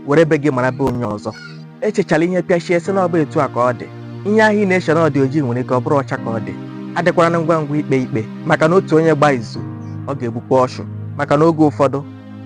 were be gị mara be onye ọzọ echechala ihe pịachie sị na ọ bụ etu a ka ọ dị ihe ahụ ị na-eche na ọ dị ojii nwere ike ọ bụrụ ọcha ka ọ dị adịkwara na ngwa ngwa ikpe ikpe maka na otu onye gbaa izu ọ ga-egbukwa ọchụ maka na oge ụfọdụ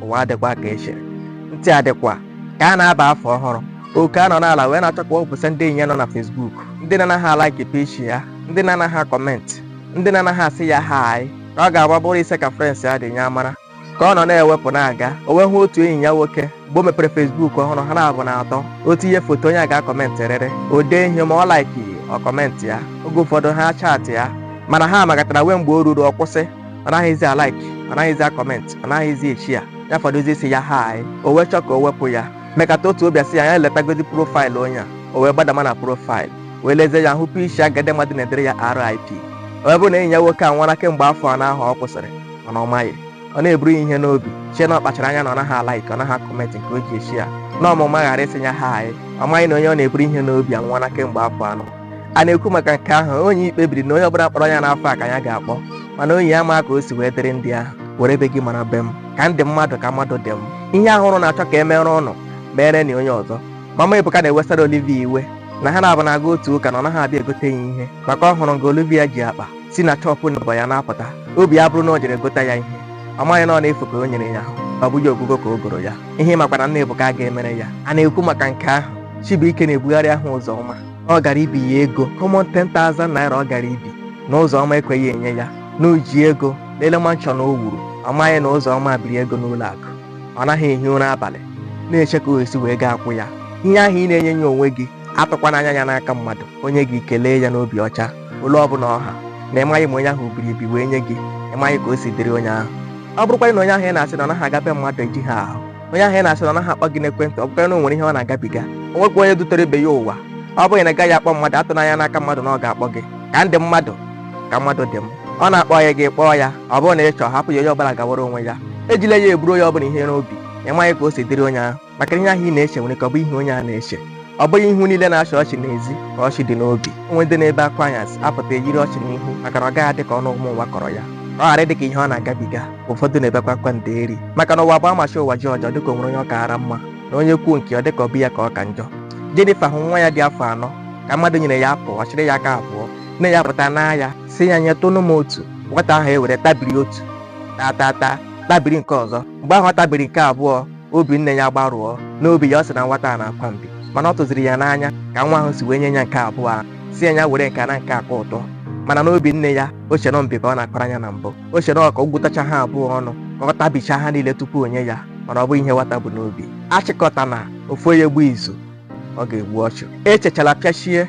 ụwa adịkwa ka e chere ntị adịkwa ka a na-aba afọ ọhụrụ oke anọ n'ala wee na-achọ ka o wepụsịa ndị enyi ya nọ na Facebook ndị na-anaghị alaiki peji ya ndị na-anaghị akọmentị ndị na-anaghị asị ya hai ka ọ ga-abụ ọ bụrụ ise ka frens ya dị nya amara ka ọ nọ na-ewepụ na-aga o wee hụ otu enyi ya nwoke mgbe o mepere fesbuk ọhụrụ ha naabọ na-atọ o tinye foto onye a ga-akọmentị rịrị o dee ihe ma ọ laiki ọ kọmentị ya oge ụfọdụ ha chaatịa mana ha mekatara nwee mgbe o ruru ọ kwụsị ọ naghịzi alaiki ọ naghịzi akọmentị ọ naghịzi eshịa ya fọdụzi ịsị ya hai o wee chọọ ka o wepụ ya mekata otu obi asị ya ya letagodi profaịlụ onye a o wee gbadama na profaịlụ wee lezie ya hụpụ isi agadi mmadụ na-edere ya RIP o wee bụ na enyi ya nwoke anwụọla kemgbe afọ anọ ahụ ọ kwụsịrị mana ọ maghị ọ na-eburu ya iwe n'obi chee na ọ kpachara anya na ọ naghị alaiki ọ naghị akọmentị nke o ji eshịa na ọ ma ụma ghara ịsị ya hai ọ maghị na onye ọ na-eburu iwe n'obi anwụọla kemgbe afọ anọ a na-ekwu maka nke ahụ Onyi kpebiri na onye ọbụla kpọrọ ya n'afọ a ka ya ga-akpọ mana Onyi amaghị ka o si wee dịrị ndị ahụ were be gị mara be m ka m dị mmadụ ka mmadụ dị m ihe ahụ ụnụ na-achọ ka e mere ụnụ merenụ onye ọzọ mama ebuka na-ewesara olivia iwe na ha naabọ na-aga otu ụka na ọ naghị abịa egote ya ihe maka ọ hụrụ nga olivia ji akpa si na shop neighbour ya na-apụta obi ya abụrụ na o jere gota ya ihe ọ maghị na ọ n'efu ka o nyere ya ọ bụghị ogugo ka o goro ya ihe ị makwa na nna ebuka ga-emere ya a na-ekwu maka nke ahụ chibuike na-ebugharị aha Ụzọma na ọ gara ibi ya ego common 10,000 naira ọ gara ibi na Ụzọma ekweghị enye ya na o ji ego lele manshọn o wuru ọ maghị na Ụzọma biri ego n'ụlọ akụ ọ naghị ehi ụra abalị na-eche ka o si wee ga-akwụ ya ihe ahụ ị na-enyeghị onwe gị atụkwana anya ya n'aka mmadụ o nye gị kelee ya n'obi ọcha ole ọbụla ọ ha na ị maghị ma onye ahụ biri ebi wee nye gị ị maghị ka o si dịrị onye ahụ ọ bụrụkwa na onye ahụ ị na-asị na ọ naghị aga be mmadụ ejighị ahụ onye ahụ ị na-asị na ọ naghị akpọ gị n'ekwentị ọ bụkwa na o nwere ihe ọ na-agabiga o nwekwa onye dutere ibe ya ụwa ọ bụrụ na ị gaghị akpọ mmadụ atụna anya n'aka mmadụ na ọ ga-akpọ gị ka m dị mmadụ ka mmadụ dị m ọ na-akpọghị gị kpọọ ya ọ bụrụ na ị chọọ hapụ ya onye ọbụla gawara onwe ya ejila ya eburu onye ọbụla iwe n'obi ị maghị ka o si dịrị onye ahụ maka ihe ahụ ị na-eche nwere ike ọ bụghị ihe onye ahụ na-eche ọ bụghị ihu niile na-achị ọchị n'ezi ka ọchị dị n'obi o nwere ndị na-ebe akwa anyasị apụta eyiri ọchị n'ihu maka na ọ gaghị adị ka ọnụ ụmụ ụwa kọrọ ya ọ ghara ịdị ka ihe ọ na-agabiga ụfọdụ na-ebekwa akwa ndeeri maka na ụwa bụ a machie ụwa jioji ọ dịka o nwere onye ọ kaara mma na onye kwuo nke ya ọ dịka ọ bụ ya ka ọ ka njọ Jenifa hụ nwa ya dị afọ anọ ka mmadụ nyere ya apụl ọ chịrị ya aka abụọ nne ya pụta n'ahịa sị ya nyetụnụ m otu nwata ahụ ewere tabiri otu taa taa taa tabiri nke ọzọ mgbe ahụ ọ tabiri nke abụọ obi nne ya gbarụọ n'obi ya ọ sị na nwata a na-akwa mbi mana ọ tụziri ya n'anya ka nwa ahụ si wee nye ya nke abụọ ahụ sị ya were nke a na nke a ka ụtọ mana n'obi nne ya o chere mbi ka ọ na-akpara anya na mbụ o chere ka ọ gwụtacha ha abụọ ọnụ ka ọ tabicha ha niile tupu o nye ya mana ọ bụghị ihe nwata bu n'obi achịkọta na ofu onye gbuo izu ọ ga-egbu ọchụ echechala pịachie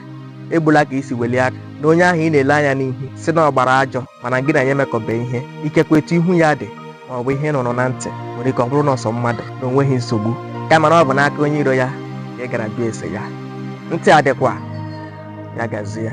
egbula ka i si welie aka na onye ahụ ị na-ele anya n'ihu sị na ọ gbara ajọ mana gị na ya emekọbe ihe ikekwe etu ihu ya dị ma ọ bụ ihe ị nụrụ na ntị nwere ike ọ bụrụ na ọsọ mmadụ na o nweghị nsogbu kama na ọ bụ n'aka onye iro ya ka ị gara jụọ ese ya ntị adịkwa ya gazie